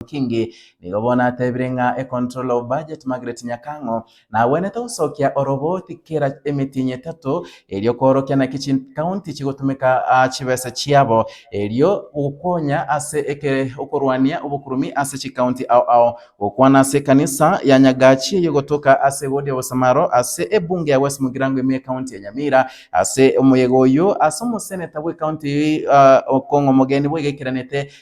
Kingi. Nigo bono atebire ng'a e controller of budget Margaret Nyakang'o nagwenerete gosokia oroboti kera emetienyi etato erio koorokia naki chi county chigotumeka chibesa chiabo erio gokonya ase eke okorwania obokurubi ase chi county ao ao. Gokwana ase ekanisa ya Nyagachi eye gotoka ase wodi ya Bosamaro ase ebunge ya West Mugirango ime county ya Nyamira ase omoyega oyio ase omoseneta bwe county eye Okong'o Omogeni bwegekeranete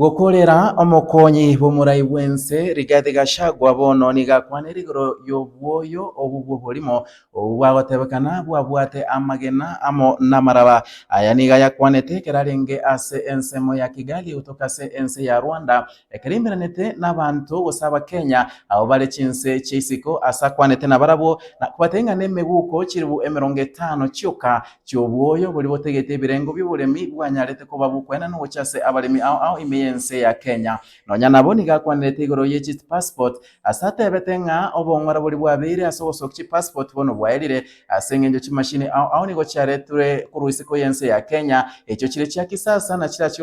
Gokorera omokonyi bw'omorai bw'ense, Rigathi Gachagua bono nigo akwanire igoro y'obwoyo obwo bw'oborimo obwo bwagotebekana bwabwate amagena amo namaraba. Aya nigo ayakwanete ekero arenge ase ensemo ya Kigali gotoka ase ense ya Rwanda ekero aimeranete nabanto gose Abakenya abwo bare chinse chia isiko ase akwanete nabarabwo na kobatebia ng'a nemeguko chilifu emerongo etano chioka chi'obwoyo boria botegete ebirengo bi'oboremi bwanyarete koba bokwena nogochia ase abaremi ao ao ime y'ense ya Kenya. Nonya nabo nigo akwanirete igoro ye chi passport ase atebete ng'a obong'ora boria bwabeire ase ogosokia chi passport bono bwaerire ase eng'encho chimashini ao ao nigo chiaretirwe korwa isiko y'ense ya Kenya echio chire chia kisasa na chirachie